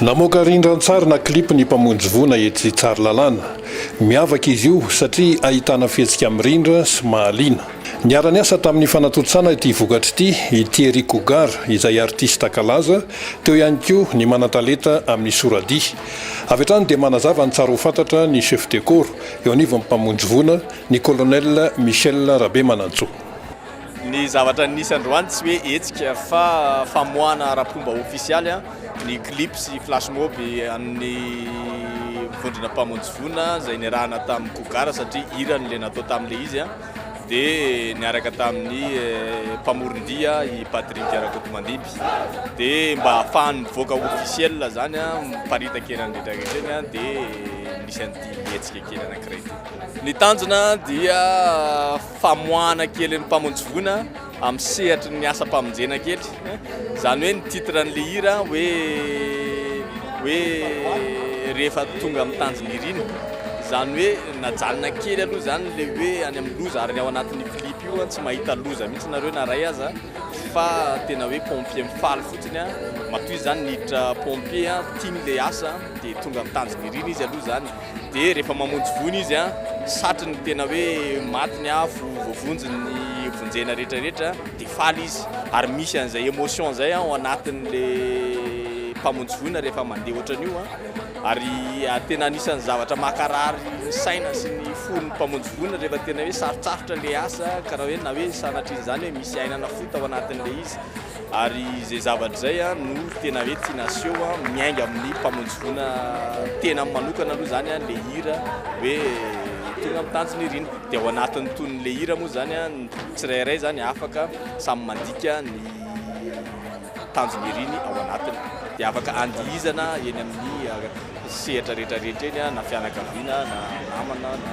Namoaka rindran-tsary na clip ny mpamonjy voina etsy Tsaralalàna. Miavaka izy io satria ahitana fihetsika mirindra sy mahaliana. Niara-niasa tamin'ny fanatontosana ity vokatra ity i Thierry Cougar izay artista kalaza, teo ihany koa ny manan-talenta amin'ny sora-dihy. Avy hatrany dia manazava ny tsara ho fantatra ny chef de corps eo anivon'ny mpamonjy voina, ny Colonel Michel Rabemanantsoa. Ny zavatra nisy androany tsy hoe hetsika fa famoahana ara-pomba ofisialy ny clip sy flash mob an'ny vondrona mpamonjy voina izay niarahana tamin'ny Cougar satria hira no le natao tamin'ilay izy dia niaraka tamin'ny mpamoron-dihy i Patrick Rakotomandimby dia mba hahafahany mivoaka officiel izany miparitaka eny amin'ny retraretra eny dia nisy an'ity hetsika kely anankiray ity. Ny tanjona dia famoahana kely ny mpamonjy voina amin'ny sehatry ny asam-pamonjena kely, izany hoe ny titre an'ilay hira hoe hoe rehefa tonga amin'ny tanjon'irina, izany hoe najanona kely aloha izany ilay hoe any amin'ny loza ary ny ao anatin'io clip io an tsy mahita loza mihitsy nareo na iray aza fa tena hoe pompier mifaly fotsiny an, matoa izy izany niditra pompier an tiany ilay asa dia tonga amin'ny tanjon'irina izy aloha izany. Dia rehefa mamonjy voina izy, satry ny tena hoe maty ny afo, voavonjy ny vonjena rehetra rehetra, dia faly izy. Ary misy an'izay emotion izay ao anatin'ilay mpamonjy voina rehefa mandeha ohatran'io. Ary tena anisan'ny zavatra makarary ny saina sy ny fon'ny mpamonjy voina rehefa tena hoe sarotsarotra ilay asa, karaha hoe na hoe sanatrian'izany hoe misy ainana fohy tao anatin'ilay izy. Ary izay zavatra izay no tena hoe tiana aseho miainga amin'ny mpamonjy voina tena manokana aloha izany ilay hira hoe tonga amin'ny tanjona irina. Dia ao anatin'ny tonon'ilay hira moa izany ny tsirairay izany afaka samy mandika ny tanjony iriny ao anatiny. Dia afaka andihizana eny amin'ny sehatra rehetra rehetra eny na fianakaviana na namana na.